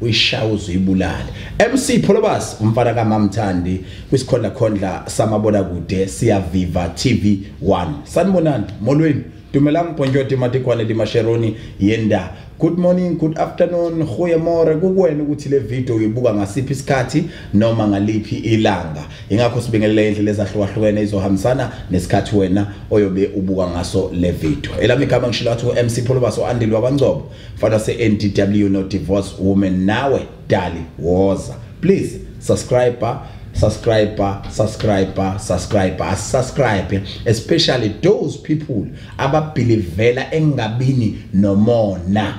uyishaya uzuyibulale MC Pholobas umfana kaMamthandi kwisikhondla khondla samabona kude siyaviva TV 1 sanibonani molweni dumelang mponjoti matikwane limasheroni yenda good morning good afternoon goye more kukuwena ukuthi le video uyibuka ngasiphi isikhathi noma ngaliphi ilanga ingakho sibingelela indlela ezahlukahlukene izohambisana nesikhathi wena oyobe ubuka ngaso le video elami igama ngishilo athi u-mc pholobas o-andile wakwancobo Mfana se NDW no divorce woman nawe dali woza. Please subscribe subscriber subscriber subscriber asubscribe especially those people ababhilivela engabini nomona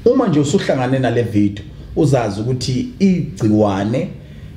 uma nje usuhlangane nale video uzazi ukuthi igciwane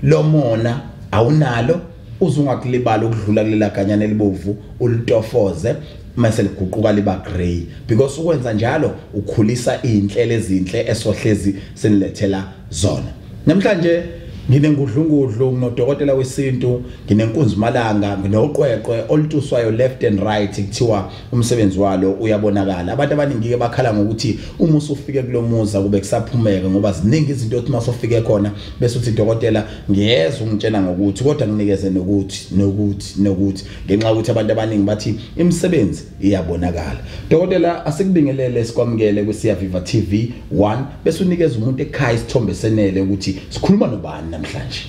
lomona awunalo uze ungakulibala ukudlula kulela ganyana elibovu ulitofoze mase liguquka liba grey because ukwenza njalo ukhulisa izinhlelo ezinhle esohlezi sinilethela zona namhlanje nginengudlungudlu nginodokotela wesintu nginenkunzi malanga nginoqweqwe olutuswayo left and right kuthiwa umsebenzi walo uyabonakala abantu abaningi ke bakhala ngokuthi uma usufike kulomuza kube kusaphumeka ngoba ziningi izinto othi masofike khona bese uthi dokotela ngiyeza ungitshena ngokuthi kodwa nginikeze nokuthi nokuthi nokuthi ngenxa ukuthi abantu abaningi bathi imisebenzi iyabonakala dokotela asikubingelele sikwamukele kwiSiyaviva TV 1 bese unikeza umuntu ekhaya isithombe senele ukuthi sikhuluma nobani namhlanje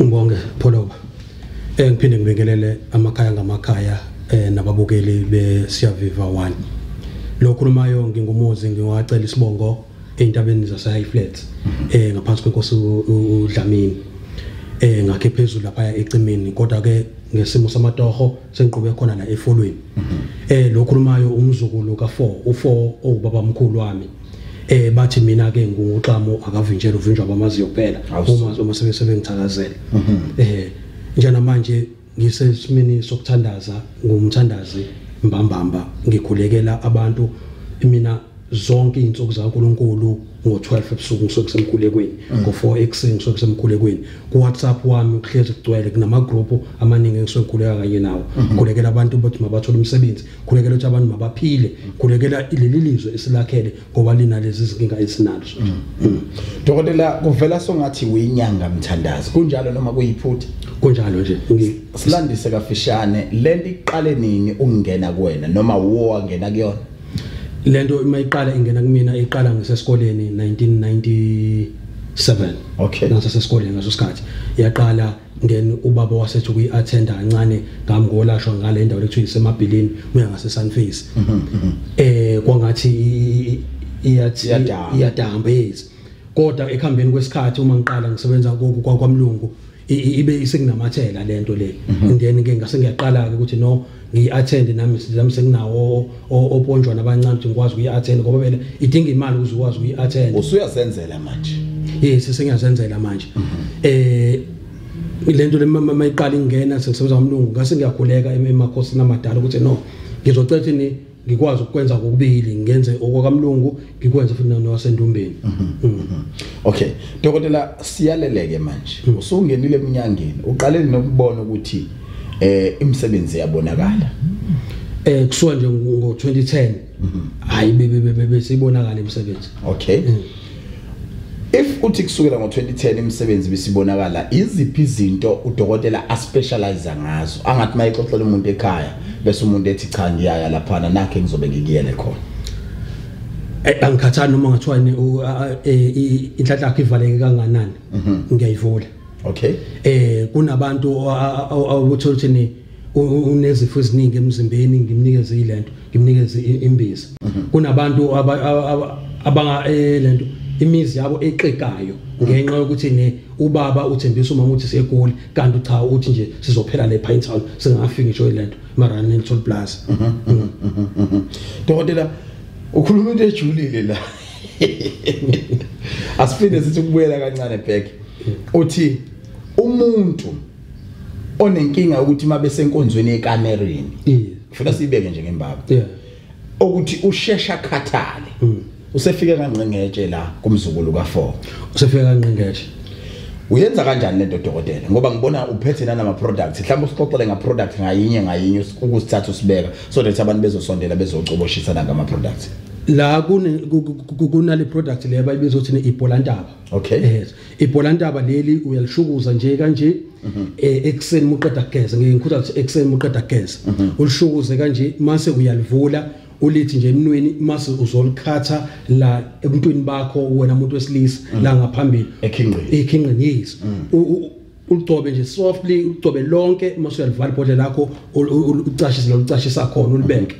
ngibonge pholoba eh ngiphinde ngibingelele amakhaya ngamakhaya eh nababukeli beSiyaviva 1 lo khulumayo ngingumuzi ngiwacela isibongo entabeni zaseHigh Flats eh ngaphansi kwenkosi uDlamini eh ngakhe phezulu lapha ecimini kodwa ke ngesimo samatoho sengiqhube khona la efolweni eh lo khulumayo umzukulu ka4 u4 owubaba omkhulu wami eh bathi mina ke nguxamo akavinjela uvinjwa bamaziyo kuphela uma uma sebesebengithakazela mhm. eh njena manje ngisesimini sokuthandaza ngumthandazi mbambamba ngikhulekela abantu mina zonke izinsuku zaNkuluNkulu ngo12 ebusuku ngisuke semkhulekweni mm. ngo4 ekuseni ngisuke semkhulekweni ku WhatsApp wami uhlezi kugcwele kunama group amaningi engisuke ngikhuleka kanye nawo mm-hmm. khulekela abantu ukuthi mabathole umsebenzi khulekela ukuthi abantu mabaphile mm. khulekela leli lizwe esilakhele owalina lezi zinkinga esinazo mm. mm. dokotela kuvela songathi uyinyanga mthandazi kunjalo noma kuyiphutha kunjalo nje silandise kafishane lento iqale nini ukungena kuwena noma wo wangena kuyona lento uma iqala ingena kumina iqala ngisesikoleni 1997 okay ngasesikoleni ngaso sikhathi yaqala then ubaba wasethi kuyi attend kancane ngami ngolashwa ngale ndawo lethu isemabhilini uya ngase sunface mhm, mhm. eh kwangathi iyathi iyadamba yes kodwa ekuhambeni kwesikhathi uma ngiqala ngisebenza kwamlungu ibe isekunamathela lento le mhm. then ke ngase ngiyaqala ke ukuthi no ngiyi-athende nami nami senginawo oponjwana abancane ukuthi ngikwazi ukuyi-athenda ngoba vele idinga imali ukuze ukwazi ukuyi-athenda usuyazenzela manje yes sengiyazenzela manje mhm. eh lento lemama iqala ingena sekusebenza umlungu ngase ngiyakhuleka emakhosini amadala ukuthi no ngizocela ukuthi ngikwazi ukwenza kokubili ngenze okwakamlungu ngikwenze futhi nowasendumbeni mhm, mm. mhm. okay dokotela siyaleleke manje mm. usungenile eminyangeni uqale nokubona ukuthi eh imisebenzi yabonakala eh kusuka nje ngo 2010 mhm. hayi bebe bebe sibonakala imisebenzi okay mm. If uthi kusukela ngo-2010 imisebenzi bisibonakala iziphi izinto udokotela aspecialize ngazo angathi uma exoxela umuntu ekhaya bese umuntu ethi cha ngiyaya laphana nakhe ngizobe ngikuyele khona eh, angikhathani noma ngathiwa e, inhlanhla yakho ivaleke kanganani mhm. ngiyayivula okay eh kunabantu awuthola ukuthi unezifo eziningi emzimbeni ngimnikeze ilento ngimnikeze imbiza mhm. kunabantu abanga eh, lento imizi yabo exekayo ngenxa yokuthi ne ubaba uthembisa umama ukuthi segoli kanti cha uthi nje sizophela le Pine Town singafiki ngisho ilento mara ne Toll Plaza mhm, mhm, dokotela ukhuluma into ejulile la asifinde sithi kubuyela kancane back uthi umuntu onenkinga ukuthi uma besenkonzweni yekamereni ngifuna siyibeke nje ngembaba ukuthi ushesha khathale mm. usefike kangqengetshe la kumzukulu ka4 usefike kangqengetshe uyenza kanjani lento dokotela ngoba ngibona uphethe nanama products mhlawumbe usixoxele nga product ngayinye ngayinye ukusithatha usibeka so that abantu bezosondela bezocoboshisana ngama products la kunale product le bayibiza ukuthi ne ibolantaba okay yes ibholantaba leli uyalishukuza nje kanje mhm. eh, ekuseni muqeda kugeza ngeke ngikhuthaza ukuthi ekuseni muqeda kugeza mhm. ulishukuze kanje mase uyalivula ulithi nje emnweni mase uzolikhatha la ebuntwini bakho wena umuntu wesilisa mhm. la ngaphambili ekhingqini ekhingqini yes uligcobe nje softly uligcobe lonke mase uyalivala ibhodlela lakho ucashise lo ucashisa khona ulibeke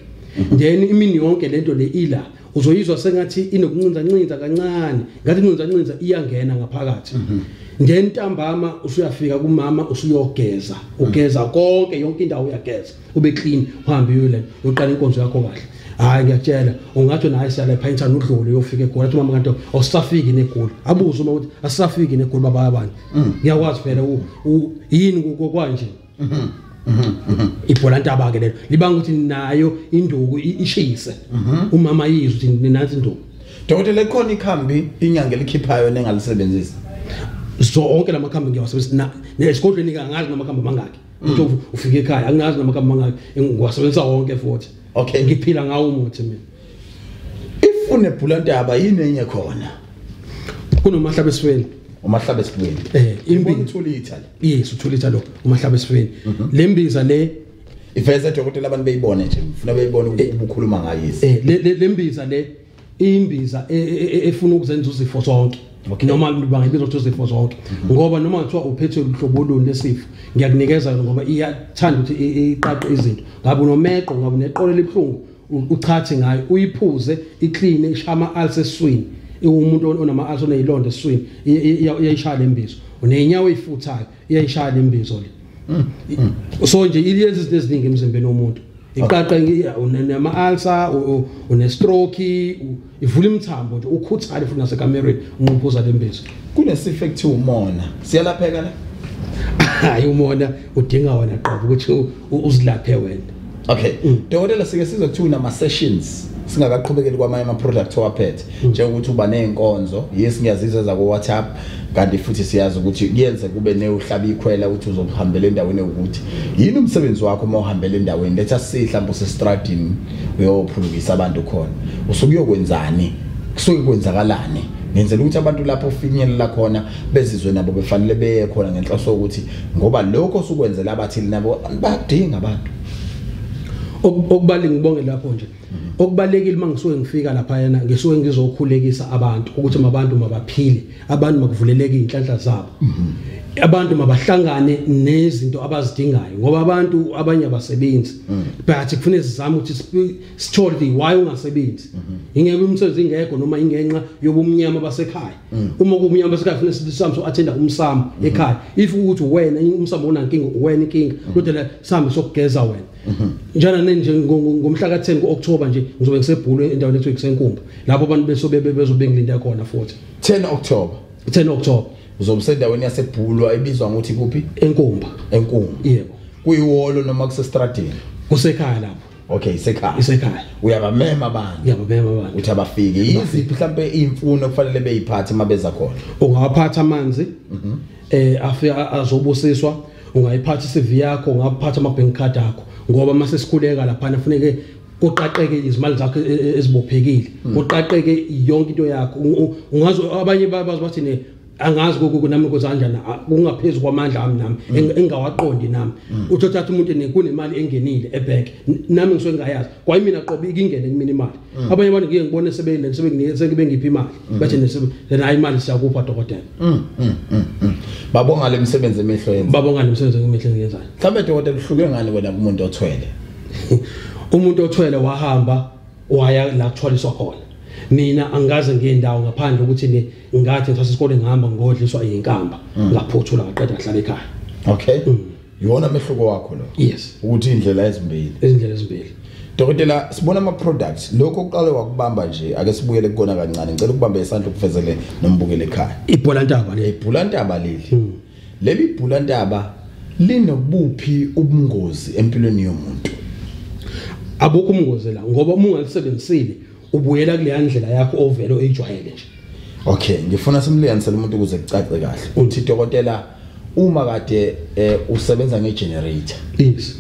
then imini yonke lento le ila uzoyizwa sengathi inokuncinza ncinza kancane ngathi incinza ncinza iyangena ngaphakathi mhm. ngentambama usuyafika kumama usuyogeza ugeza konke yonke indawo uyageza ube clean uhambe uyole uqala inkonzo yakho kahle hayi ngiyatshela ungathi naye siyale phaintha nodlule uyofika egoli athi mama kanti awusafiki negoli abuze uma ukuthi asafiki negoli baba abantu mm. ngiyakwazi phela yini kokwanje ibhola ntaba ke lelo libanga ukuthi nayo induku ishise umama yizwe ukuthi ninansi induku dokotela ekhona ikhambi inyanga elikhiphayo nengalisebenzisa zonke lamakhambi ngiyawasebenzisa nesigodlweni kangazi namakhambi mangaki mm. uthi ufike ekhaya angazi namakhambi mangaki ngiwasebenzisa wonke futhi okay ngiphila ngawo umuthi mina ifune bhulantaba yini enye khona kunomahlaba esifeni umahlaba esifeni eh imbi uthula ithali yes uthula ithali lo umahlaba esifeni mhm. lembiza le iveze dokotela abantu beyibone nje ufuna beyibone ukuthi eh. ubukhuluma ngayisi eh lembiza le imbiza e, e, e, efuna ukuzenza uzifo zonke okay. noma bangayibiza ukuthi uzifo zonke mhm. ngoba noma kuthiwa uphethwe luhlobo luni lesifo ngiyakunikeza ngoba iyathanda ukuthi iqaqe izinto ngabe unomeqo ngabe uneqolo elibuhlungu uchathi ngayo uyiphuze iclean ishama alse swini umuntu onama alse onezilonda eswini iyayishaya lembizo unenyawo ifuthayo iyayishaya lembizo le mm. so nje iyenza izinto eziningi emzimbeni womuntu iqaqa unama alsa une stroke ivula imithambo nje ukhuthale futhi nasekamereni unqumpuza lembezi kunesifo ekuthiwa umona siyalapheka la hayi umona udinga wena qobo ukuthi uzilaphe wena okay mm. dokotela sike size kuthiwa nama sessions singakaqhubekeli kwamanye ama product owaphethe mm. njengokuthi uba nezinkonzo yes ngiyazizwa za ku WhatsApp kanti futhi siyazi ukuthi kuyenze kube newuhlaba ikhwela ukuthi uzohambela endaweni ukuthi yini umsebenzi wakho uma uhambela endaweni letha sihlambo sestradini uyophulukisa abantu khona usuke uyokwenzani kusuke kwenzakalani ngenzela ukuthi abantu lapho ufinyelela khona bezizwe nabo befanele beye khona ngenhloso ukuthi ngoba lokho sukwenzela abathili nabo badinga abantu okubalingibonge lapho nje okubalekile uma ngisuke ngifika lapha yena ngisuke ngizokhulekisa abantu ukuthi mabantu mabaphile abantu makuvuleleke inhlanhla zabo abantu mabahlangane nezinto abazidingayo ngoba abantu abanye abasebenzi mm. but kufanele sizame ukuthi sithole ukuthi why ungasebenzi mm-hmm. ingeke umsebenzi ingekho noma ingenxa yobumnyama basekhaya mm. uma kubumnyama basekhaya kufanele sithi samso athenda umsamo mm-hmm. ekhaya if ukuthi wena umsamo unankinga wena inkinga kodwa mm. sambe sokugeza wena Mhm. njana nje ngomhla ka-10 ku-october nje ngizobe ngisebhulwe endaweni ethiwa kusenkumba lapho abantu besobe bezobe ngilinda khona futhi 10 october 10 october uzobe sendaweni yasebhulwa ebizwa ngokuthi kuphi enkumba enkumba yebo kuyiwolo noma kusestradini kusekhaya lapho okay isekhaya isekhaya uyabamema abantu uyabamema abantu uthi abafike yiziphi mhlambe imfuno kufanele beyiphathe mabeza khona ungawaphatha amanzi mhm. eh afika azobusiswa ungayiphatha i-CV yakho ungaphatha ama-bank card akho ngoba uma sesikhuleka laphana kufuneke kuqaqeke izimali zakho e, e, ezibophekile hmm. kuqaqeke yonke into yakho ungazi abanye bazi bathi ne angazi kokuku nami kozanjana kungaphezulu kwamandla ami nami hmm. engawaqondi nami hmm. uthi uthatha umuntu nekunemali engenile ebhenki nami ngisuke ngayazi kwayi mina qobe ikingene kumina imali mm. abanye abantu ngike ngibone sebeyile sebengibe ngiphi imali mm. bathi nesebe then hayi imali siyakupha dokotela mm, babonga le misebenzi emehlo yenza babonga le misebenzi emehlo yenzayo mhlawumbe dokotela uhluke ngani wena kumuntu othwele umuntu othwele wahamba waya la kuthwaliswa khona mina angikaze ngiye ndawo ngaphandle ukuthi ni ngathi ngithatha isikole ngihamba ngodliswa iyinkamba ngaphothula ngaqeda ngihlala ekhaya okay mm. yona mehluko wakho lo yes ukuthi indlela ezimbili izindlela ezimbili Dokotela sibona ama products lokho uqale wakubamba nje ake sibuyele kukona kancane ngicela ukubambe isandla ukufezele nombukele ekhaya ibhola ntaba le ibhola ntaba leli hmm. leli ibhola ntaba linobuphi ubungozi empilweni yomuntu abukho umngozi la ngoba uma ungalisebenzisile ubuyela kuleya ndlela yakho ovele oyijwayele nje okay ngifuna simliyanisele umuntu ukuze kucace kahle uthi dokotela uma kade eh, usebenza ngegenerator yes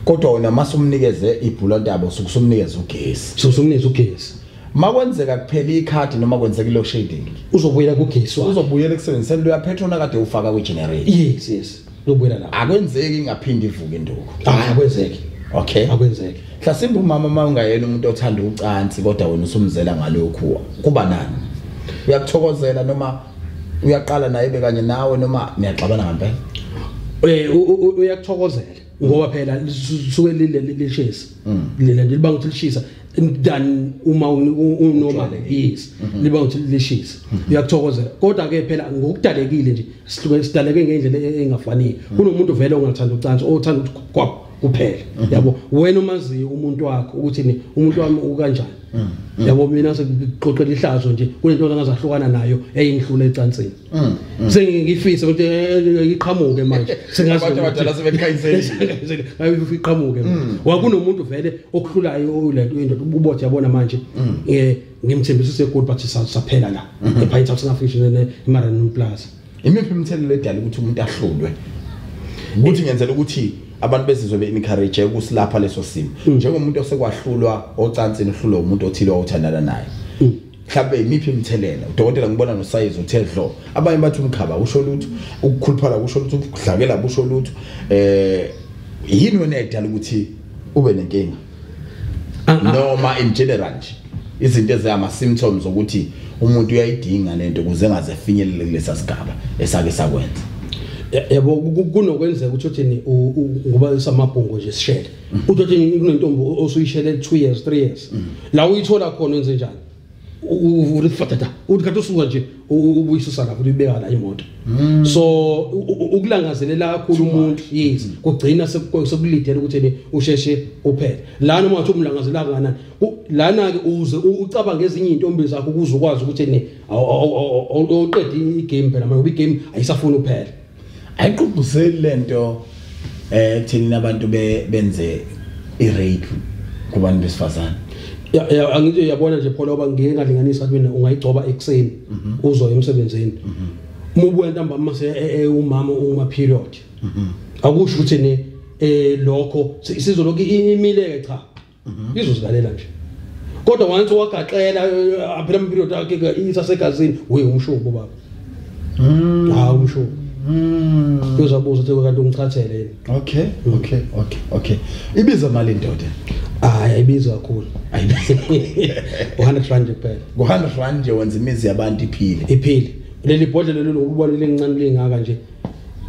kodwa wena masumnikeze ibhulantabo sukusumnikeza ugesi sukusumnikeza ugesi makwenzeka kuphela ikhadi noma kwenzeka ilo shading uzobuyela kugesi uzobuyela ekusebenziseni lo yapetrol akade ufaka kwi generator yes yes lobuyela lapho akwenzeki ingaphindi ivuke induku hayi akwenzeki okay akwenzeki mhlasimbe umama uma ungayena umuntu othanda ucansi kodwa wena usumzela ngalokhu kuba nani uyakuthokozela noma uyaqala naye bekanye nawe noma niyaxabana ngempela eh uyakuthokozela ngoba phela suke lile lishesi Mm. lena nje libanga ukuthi lishisa than uma unoma yes mm-hmm. liba ukuthi lishisa mm-hmm. uyakuthokozela kodwa ke phela ngokudalekile nje sihluke sidaleke ngendlela e-, engafanele mm. kunomuntu vele ongathanda ucansi othanda ukuthi kwabo kuphela mm-hmm. yabo wena umaziyo umuntu wakho ukuthi ni umuntu wami ukanjani mm. yabo mina sekuxoxela ihlazo nje kunento engazahlukana nayo eyinhlule ecansini Mm, mm. sengifisa ukuthi eh, eh, iqhamuke manje sengazi abantu abadala sebekhayiselile ayifi iqhamuke mm. wakunomuntu vele okuhlulayo lento into ubothe yabona manje eh ngimthembisa use good but saphela la mm-hmm. ePine South Africa ne Maranum Plaza imiphi imthelelo edala ukuthi umuntu ahlulwe ukuthi ngenzela ukuthi abantu bezizwe be encourage ukusilapha leso simo njengomuntu osekwahlulwa ocansini uhlulwa umuntu othile othandana naye mhlawumbe imiphi imithelela udokotela ngibona nosayizi uthe dlo abanye bathi umkhaba usho lutho ukukhuluphala kusho lutho ukudlakela kusho lutho eh yini wena edala ukuthi ube nenkinga ah, ah. noma in general nje izinto ezihama symptoms ukuthi umuntu uyayidinga lento ukuze engaze finyelele kulesa sigaba esake sakwenza yabo kunokwenzeka ukuthi uthini ngoba samabhungu nje sishele utothi kunentombi osuyishele 2 years 3 years mm. la uyithola khona enze njani uvule fatata uthi kade usuka nje ubuyisusa lapho uyibeka la imoto mm. so ukulangazelela kakhulu umuntu yes mm. kugcina sekulidela ukuthi ne usheshe uphele la noma wathi umlangazela kanani lana ke uze ucabanga ezinye intombi zakho ukuze ukwazi ukuthi ne awuqedi igame phela manje ubigame ayisafuni uphele ayigqugquzeli lento eh thina abantu benze i-rape kubantu besifazane angithi uyabona nje pholo oba ngeke ngalinganisa ukuthi mina ungayigcoba ekuseni mhm. uzo emsebenzini mhm. uma ubuya ntambama mase e, e, umama uma period mhm. akusho ukuthi ne eh lokho sizoloku imile ke cha mhm. izozilalela nje kodwa once wagaxela aphela eh, impilo yakhe isasegazini we umshubo baba mm. ha umshubo Mm. Uzobuza ukuthi kanti ungichathele yini? Okay, mm. okay, okay, okay. Ibiza mali indoda. Hayi ayibizi kakhulu. Ayibizi. 100 rand kuphela. 100 rand nje wenza imizi yabantu iphile. Iphile. Leli bhodlela lelo ukubona lelincane lingaka nje.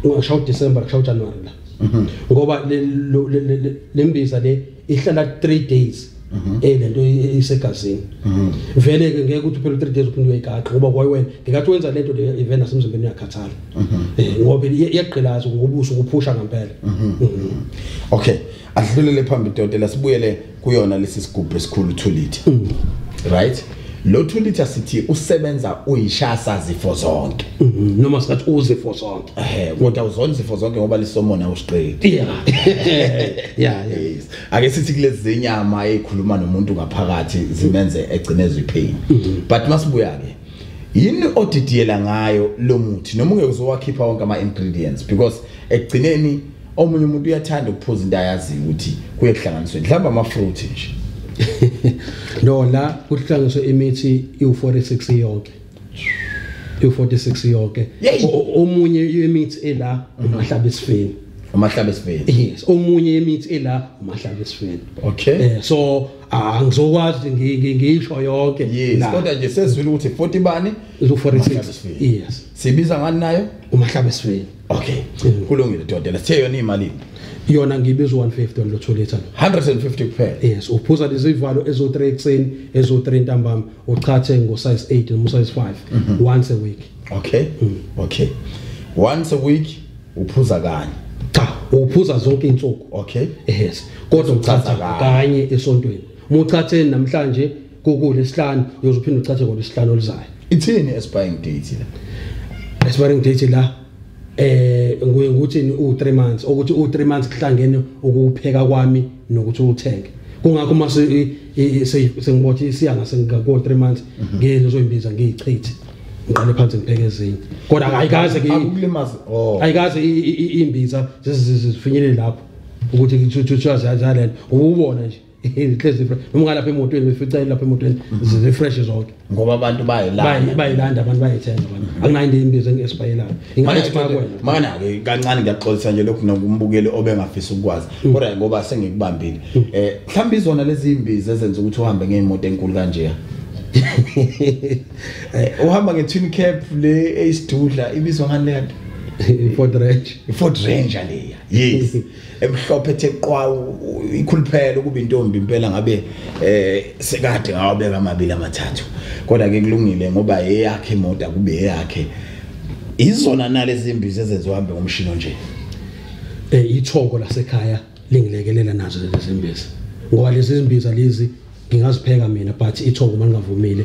Ungashawu December, kushawu January la. mhm. ngoba le mbiza le ihlala 3 days mhm. eh lento isegazini mhm. vele ke ngeke ukuthi phela 3 days uphinde uyigaqa ngoba kwaye wena ngekathi wenza lento le event asemzimbeni uyakhathala eh ngoba iyagqilaza ngobuso kuphusha ngempela okay ahlulele phambili dodela sibuyele kuyona lesi sigubhu esikhulu 2 liter mm. right lo 2 liter sithi usebenza uyishasa zifo zonke mm-hmm. noma singathi uzifo zonke eh kodwa uzona izifo zonke ngoba lisomona usiqedi yeah yeah yes ake sithi kulezi zenyama ezikhuluma nomuntu ngaphakathi zimenze egcinezwe ipain mm-hmm. but masibuya ke yini odidiyela ngayo lo muthi noma ungeke uzowakhipha wonke ama ingredients because ekugcineni omunye umuntu uyathanda ukuphuza into ayaziyo ukuthi kuye kuhlanganiswe mhlawumbe amafruit nje no la kuhlanganiswe imithi iwu-46 yonke iwu-46 yonke omunye imithi ela umahlaba esifeni umahlaba esifeni yes omunye imithi ela umahlaba esifeni okay eh, so ah ngizokwazi ngisho yonke yes kodwa nje sezwile ukuthi 40 bani izo 46 yes sibiza ngani nayo umahlaba esifeni okay kulungile dodela sithe yona imalini yona ngibiza 150 lo 2 liter 150 kuphela yes uphuza lezivalo ezo 3 ekseni ezo 3 ntambama uchathe ngo size 8 no size 5 mm -hmm. once a week okay mm. okay once a week uphuza kanye cha uphuza zonke insuku okay yes kodwa uchatha kanye esontweni muchatheni namhlanje kukule isihlanu uyoze uphinde uchaze kona isihlanu olizayo ithini expiring date la expiring date la eh nguye ngikuthini u 3 months ukuthi u 3 months kuhlangene ukupheka kwami nokuthi uthenge kungakho uma sengibothi isiya ngase ngako 3 months mhm. ngeke ngizoyimbiza ngiyichithe ngiqale phansi ngibheke ezinye kodwa ayikaze ke akulimaza oh. ayikaze imbiza zifinyelele lapho ukuthi kuthiwa ziyazalana ububona nje ihlezi noma ungalapha emotweni uyifica ilapha emotweni zifresh zonke ngoba abantu bayilanda bayilanda abantu bayithenga abantu akunayo into imbizo engesibayelayo ingathi kwakho mana ke kancane ngiyaxolisa nje lokhu nokumbukeli obengafisa ukwazi mm. kodwa ngoba sengikubambile mm. eh mhlawumbe izona lezi imbizo ezenza ukuthi uhambe ngeimoto enkulu kanje eh, uhamba nge twin cap le eyisidudla ibizwa ngani le nto i Ford Ranger i Ford Ranger leya yes emhlophe ethe qwa ikhuluphela ukuba intombi impela ngabe eh sekade ngawabeka amabili amathathu kodwa ke kulungile ngoba eyakhe imoto akube eyakhe izona nalezi mbizi ezenziwambe ngomshini nje eh ithongo lasekhaya lingilekelela nazo lezi mbizi ngoba lezi mbiza lezi ngingazipheka mina but ithongo mangavumile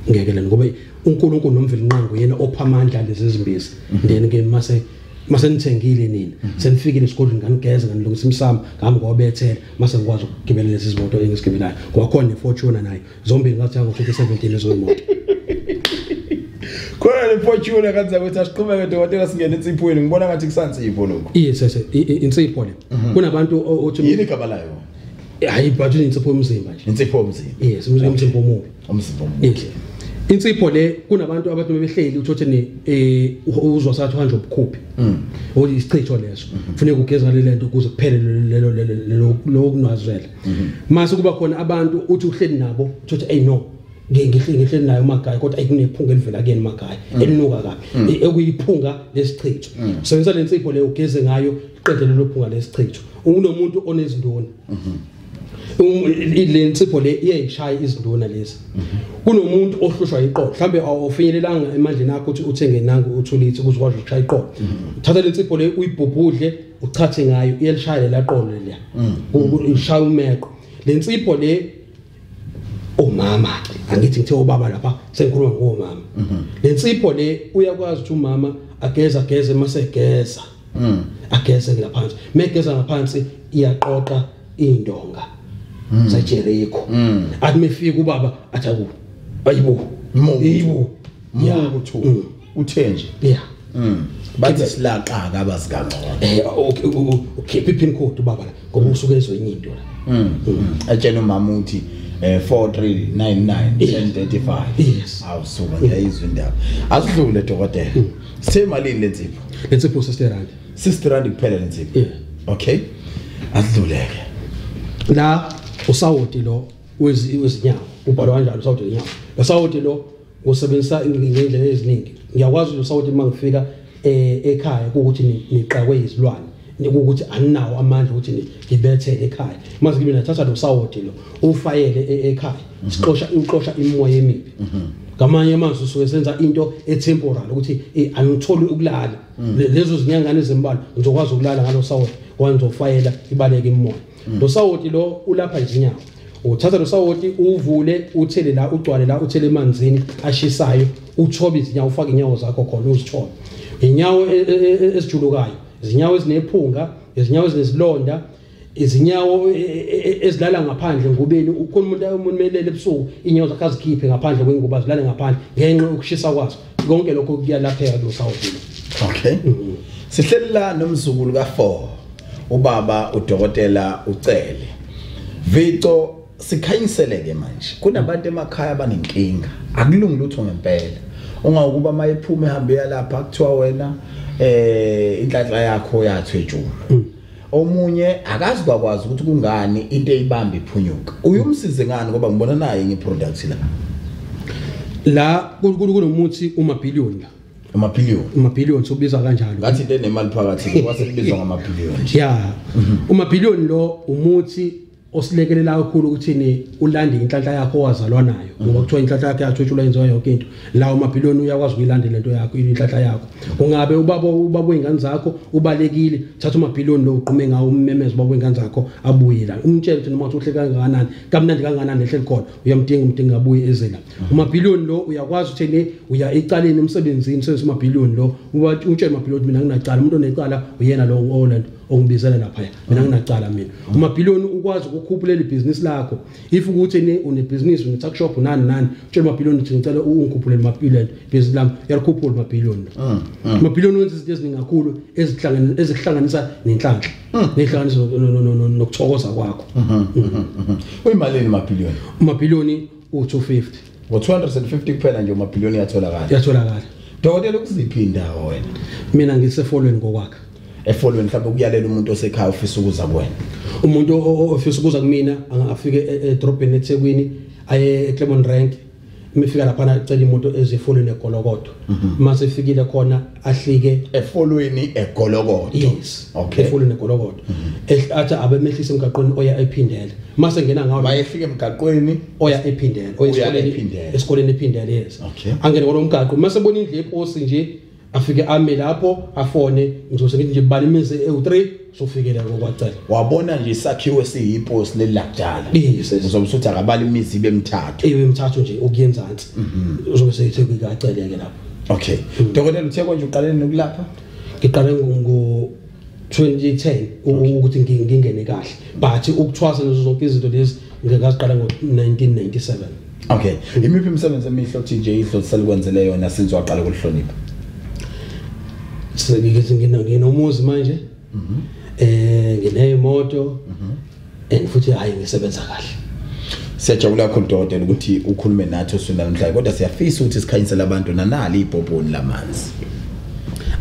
ngeke lena ngoba uNkulunkulu nomveli nqangu yena opha amandla lezi zimbizi then ke mase mase nithengile nini mhm. senifikile esigodlweni nganigeza nganilungisa imsamo ngami ngobethela mase ngikwazi ukugibela lezi zimoto engisigibelayo kwakhona nefortuna nayo zombili ngathi yango 2017 lezo moto khona nefortuna kanti ukuthi asiqhubeke dokotela singene insiphweni ngibona ngathi kusansipho lokho yes yes insipho le mhm. kunabantu othi yini igaba layo hayi but insipho yomzimba nje insipho yomzimba yes umzimba omubi umzimba omuhle insipho le kunabantu abantu bebehleli uthothe ne eh, uzwa sathi uhanje ubukhuphi mm. oyi isichitho leso mm-hmm. kufuneka ugeza le lento ukuze kuphele lelo lelo lokunwazwela mm-hmm. mase kuba khona abantu uthi uhleli nabo uthothe hey no ngihle ngihle nayo magaya kodwa ayikunephunga elivela kuyena magaya mm. elinuka kabi mm. e, ekuyiphunga lesichitho sebenzisa lensipho leyo ugeze ngayo qedele lophunga lesichitho ungunomuntu onezinduna mhm. le nsipho le iyayishaya izinduna lezi kunomuntu ohlushwa iqolo mhlambe awufinyelelanga emandleni akho ukuthi uthenge nangu uthulithi ukuze ukwazi ukushaya iqolo thatha le nsipho le uyibhubhudle uchathe ngayo iyelishaya lela qolo leya ishaya umeqo le nsipho le umama ke angithi ngithe ubaba lapha sengikhuluma ngomama mhm. lensipho le uyakwazi ukuthi umama ageza geze mase geza mhm. ageze ngaphansi megeza ngaphansi iyaqoqa indonga mhm. sa Jericho athi mefika ubaba athaku ayibo yibo muku thu uthe nje yeah mm bathi silaqaka abazi kangcono eh okay ukhipha ipin code baba la ngoba usuke ezwenye into la mm, mm. atshena umama uthi eh 4399 yes awusuka ngiyayizwa indaba asidlule dokotela mm. semalini lensipho lensipho 60 rand 60 rand kuphela lensipho yeah okay asidluleke la usawoti lo wezinyawo ubhalwa kanjalo usawoti wenyawo usawoti lo ngosebenzisa ngendlela eziningi ngiyakwazi usa ukuthi uma ngifika eh, ekhaya ukuthi niqakwe izilwane ukuthi aninawo amandla ukuthi ngibethele ekhaya mase kimi nathatha lo sawoti lo ufayele e, ekhaya mhm. sixosha uxosha imoya emibi mhm. ngamanye amazwi usuke senza into etemporal ukuthi eh, angitholi ukulala mhm. lezo zinyangane ezimbalwa ngizokwazi ukulala ngalo sawoti wangizofayela ibaleke imoya mm. lo sawoti lo ulapha nje inyawo uthatha lo sawoti uvule uthele la ugcwale la uthele emanzini ashisayo uthobe izinyawo ufake inyawo zakho khona uzithobe inyawo e, e, e, esijulukayo izinyawo ezinephunga izinyawo ezinesilonda izinyawo e, e, e, ezilala ngaphandle ngubeni ukhona umuntu umuntu melele ebusuku inyawo zakhe azikhiphe ngaphandle kwengubo azilale ngaphandle ngenxa yokushisa kwazo konke lokho kuyalapheka kusawuvula okay mm. sihleli la nomzukulu ka4 ubaba udokotela ucele vico sikhanyiseleke manje kunabantu emakhaya abanenkinga akulungi lutho ngempela ungakuba mayephume hambe yalapha kuthiwa wena eh inhlanhla yakho yathwejuma mm. omunye akazi kwakwazi ukuthi kungani into eyibamba iphunyuka uyumsize ngani ngoba ngibona naye ngeproduct la la kunomuthi umabhillion la amabhillion amabhillion sobiza kanjalo ngathi into enemali phakathi kwase kubizwa ngamabhillion ya umabhillion lo umuthi osilekelela kakhulu ukuthi ni ulande inhlanhla yakho owazalwa nayo ngoba mhm. kuthiwa inhlanhla yakhe yathutshulwa yenziwa yonke into la umabhiloni uyakwazi ukuyilandela into yakho inhlanhla yakho ungabe ubaba ubaba wengane zakho ubalekile thatha umabhiloni lo uqume ngawo ummemeza ubaba wengane zakho abuye la umtshele ukuthi noma uhle kangakanani kamnandi kangakanani ehleli khona uyamdinga umdinga abuye ezela mhm. umabhiloni lo uyakwazi ukuthi ni uya ecaleni emsebenzini usebenzisa umabhiloni lo utshele umabhiloni mina nginacala umuntu onecala uyena lo oland ongibizela lapha mina nginacala mina umabhiliyoni ukwazi ukukhuphula leli business lakho if ukuthi ni une business une tuck shop nani nani utshela umabhiliyoni ukuthi ngicela ungikhuphule mabhiliyoni business lami uyakhuphula mabhiliyoni ah, ah. mabhiliyoni wenza izinto eziningi kakhulu ezihlangene ezihlanganisa nenhlanhla ah. nehlanganisa nokuthokoza kwakho uyimalini mabhiliyoni mabhiliyoni u-250 ngo-250 kuphela nje umabhiliyoni yatholakala yatholakala dokotela ukuziphi indawo wena mina ngisefolweni kokwakhe efolweni mhlawumbe ukuyalela umuntu osekhaya ofisa ukuza kuwena umuntu ofisa ukuza kumina afike e, e, edrobheni ethekwini aye eclemon rank mifika laphana cela imoto ezifolweni egolokodo uma mhm. sefikile khona ahlike efolweni egolokodo yes okay efolweni egolokodo ehlatha abemehlisa emgaqweni oya ephindele mase ngena ngawo mayehlike emgaqweni oya ephindele oya esikoleni esikoleni ephindele yes okay angene ngolo mgaqo mase bona indle eposi nje afike ame lapho afone ngizose ngithi nje bani imizi ewu3 sofikela kokwacela wabona nje isakhiwo esiyiposi lelakudala uzobe usuthi akabala imizi ibe mithathu ibe mithathu nje ukuyenzansi mhm. uzobe seyithe kukaceleke lapho okay mm. dokotela uthe konje uqalene nokulapha ngiqale ngo 2010 ukuthi ngingene kahle but ukuthwasa lezo zonke izinto lezi ngekaqala ngo-1997 okay imiphi imisebenzi emihle othi nje idlolisela ukwenzele yona since waqala ukulihlonipha sengikithi nginomuzi manje mhm. eh ngineyimoto mhm. and futhi hayi ngisebenza kahle siyajabula kakhulu dokotela ukuthi ukhulume nathi usunda namhlanje kodwa siyafisa ukuthi sikhanyisele abantu nanali ibhobhoni lamanzi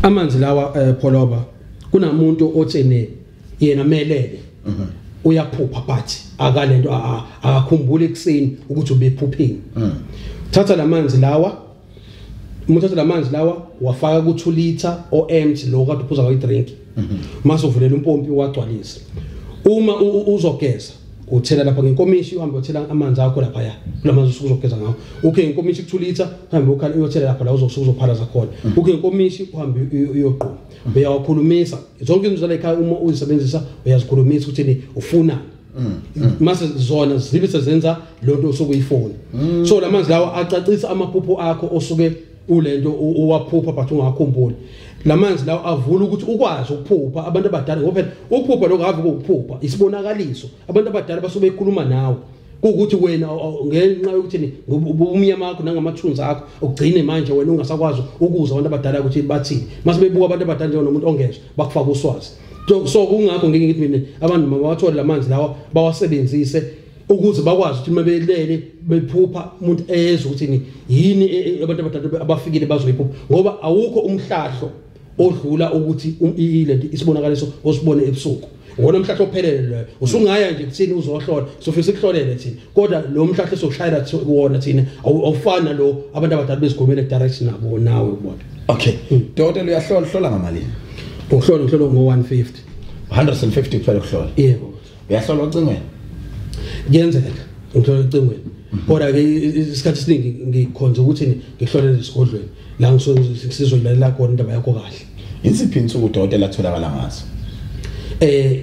amanzi lawa eh, pholoba kunamuntu otshene yena melele mhm. uyaphupha but akalento akakhumbuli ekseni ukuthi ubephuphini mhm. thatha lamanzi lawa umuthatha lamanzi lawa wafaka ku 2 liter o empty lo kade uphuza ngayi drink mhm. mase uvulela umpompi wagcwalisa uma uzogeza uthela lapha ngenkomishi uhambe uthela amanzi akho lapha ya kulamanzi usuku uzogeza ngawo ukhe ngenkomishi kuthulitha uhambe ukhala uyothela lapha la uzosuku uzophalaza khona ukhe ngenkomishi uhambe uyogquma uyawakhulumisa zonke izinto zalekhaya uma uzisebenzisa uyazikhulumisa ukuthi ni ufuna mm, mm. mase zona zibe sezenza lonto osuke uyifuna mm. so lamanzi lawo acacisa amaphupho akho osuke ulento uwaphupha but ungakhumbuli lamanzi lawo avula ukuthi ukwazi ukuphupha abantu abadala ngoba phela ukuphupha lokho ave ukuphupha isibonakaliso abantu abadala basuke bekhuluma nawe kuwukuthi wena ngenxa yokuthini ubumnyama wakho nangamathunzi akho ugcine manje wena ungasakwazi ukuza abantu abadala ukuthi bathini mase bebuka abantu abadala njengomuntu ongezwa bakufaka uswazi so kungakho ngeke ngithi mina abantu mabawathole lamanzi lawa bawasebenzise ukuze bakwazi ukuthi mabelele bephupha umuntu eyezwa ukuthi yini e, e, abantu abadala abafikile bazoyiphupha ngoba awukho umhlahlo odlula ukuthi ilento isibonakaliso osibone ebusuku ngona umhlahlo ophelele loyo usungaya nje kuthini uzohlola sofisa ukuhlolele thina kodwa lo mhlahlo sokushayela kuwona thina awufana lo abantu abadala bezigomela direct nabo nawe ubona okay hmm. dokotela uyahlola hlola ngamalini uhlola uhlola ngo 150 150 kuphela ukuhlola yebo uyahlola ocingweni kuyenzeka ngihlola ocingweni kodwa ke isikhathi esiningi ngikhonza ukuthi ngihlole lesigodlweni la ngisozilalela khona indaba yakho kahle insiphi insuku udokotela atholakala ngazo eh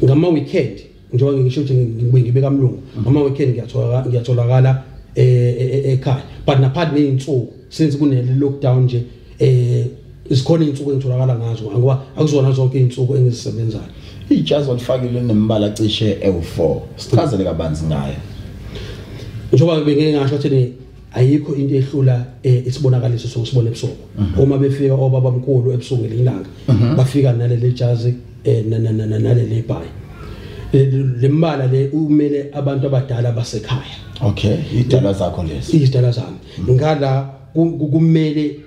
ngama weekend njengoba ngisho ukuthi ngibuye ngibe kamlungu ngama weekend ngiyatholakala ngiyatholakala eh, eh, eh, ekhaya but naphathi nezinsuku since kunele lockdown nje eh isikhona izinsuku engitholakala ngazo ngoba akuzona zonke izinsuku engizisebenzayo ijazi olifakile nembala cishe ewu4 sichazele kabanzi ngayo njengoba bengeke ngasho ukuthi ayikho into ehlula eh, isibonakaliso sokusibona ebusuku mhm. uma befika obaba mkhulu ebusuku ngelanga mhm. bafika naleli jazi eh, naleli bhayi eh, lembala le umele abantu abadala basekhaya okay idala zakho lezi idala zami ngala kumele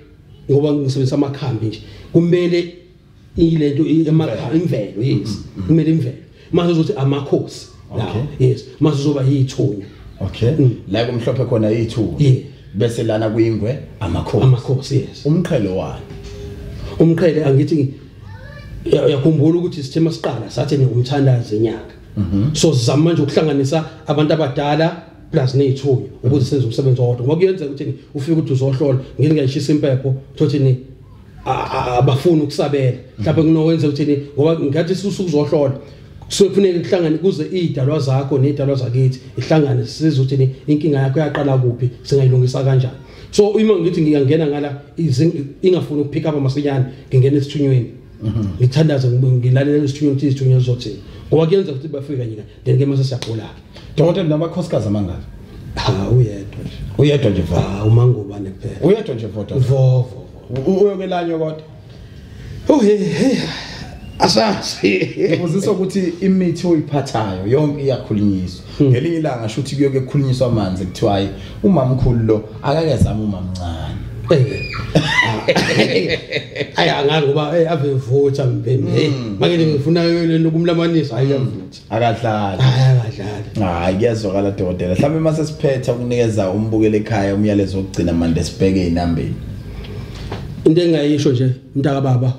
ngoba ngisebenzisa amakhambi nje kumele ilento emakhambi imvelo yes mm, mm, mm. kumele imvelo mase uzothi amakhosi lawo yes mase uzoba yithunya okay la kumhlophe khona yithunya bese lana kuyingwe amakhosi amakhosi yes umqhelo wani umqhele angithi uyakhumbula ukuthi sithe masiqala sathi ngumthandazi enyaka mhm. so sizama manje ukuhlanganisa abantu abadala plus neyithunywa ukuze senze umsebenzi owodwa ngoba kuyenzeka ukuthi ufike ukuthi uzohlola ngini ngayishisa impepho thothi ni abafuni ukusabela mhlawumbe kunowenza ukuthi ngoba ngathi susuku uzohlola so kufuneka kuhlangane kuze idalwa zakho nedalwa zakithi ihlangane size ukuthi inkinga yakho yaqala kuphi singayilungisa kanjani so uma ngithi ngiyangena ngala ingafuni ukupick up masinyane ngingena esithunyweni mhm. ngithandaze ngilalele isithunyweni ukuthi isithunyweni sizothini ngoba kuyenza ukuthi bafika nyina then ke mase siyagula dokotela nabakhosikazi amangaka ha uyedwa nje uyedwa nje va ha umangubane kuphela uyedwa nje vodo vovo uyokelanywa kodwa uhe he asazi uziswa ukuthi imithi oyiphathayo yonke iyakhulunyiswa hmm. ngelinye ilanga shuthi kuyoke kukhulunyiswa amanzi kuthiwa umamkhulu lo akakezama umamncane ayi angazi ngoba hey ave vutha mbhemi hey mm. make ngifuna yona ukumlamanisa hayi yamvuthi mm. akadlali akadlali hayi kuyazwakala dokotela mhlawumbe mase siphetha ukunikeza umbukele ekhaya umyalezo wokugcina manje sibheke inambeni into engayisho nje mntaka baba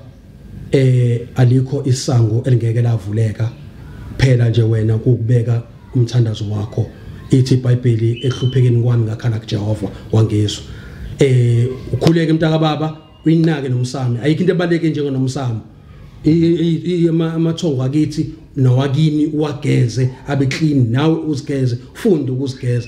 eh alikho isango elingeke lavuleka phela nje wena ukubeka umthandazo wakho ithi iBhayibheli ehluphekeni kwami ngakhala kuJehova wangizwa eh ukhuleke mntaka baba uyinake nomsami ayikho into ebaleke njengonomsami amathongo akithi nowakini uwageze abe clean nawe uzigeze funde ukuzigeza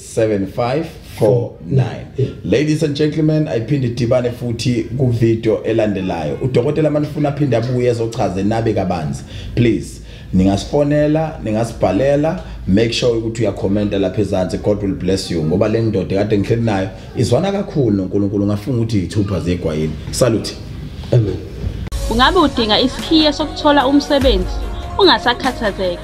7549 ladies and gentlemen ayiphinde idibane futhi kuvideo elandelayo udokotela manifuna aphinde abuye ezochaze nabe kabanzi please ningasifonela ningasibhalela make sure ukuthi uyakhomenta lapha ezansi god will bless you ngoba le ndoda kade ngihleli nayo izwana kakhulu nonkulunkulu ngafunga ukuthi yithupha zegwayini salute amen ungabe udinga isikhiye sokuthola umsebenzi ungasakhathazeki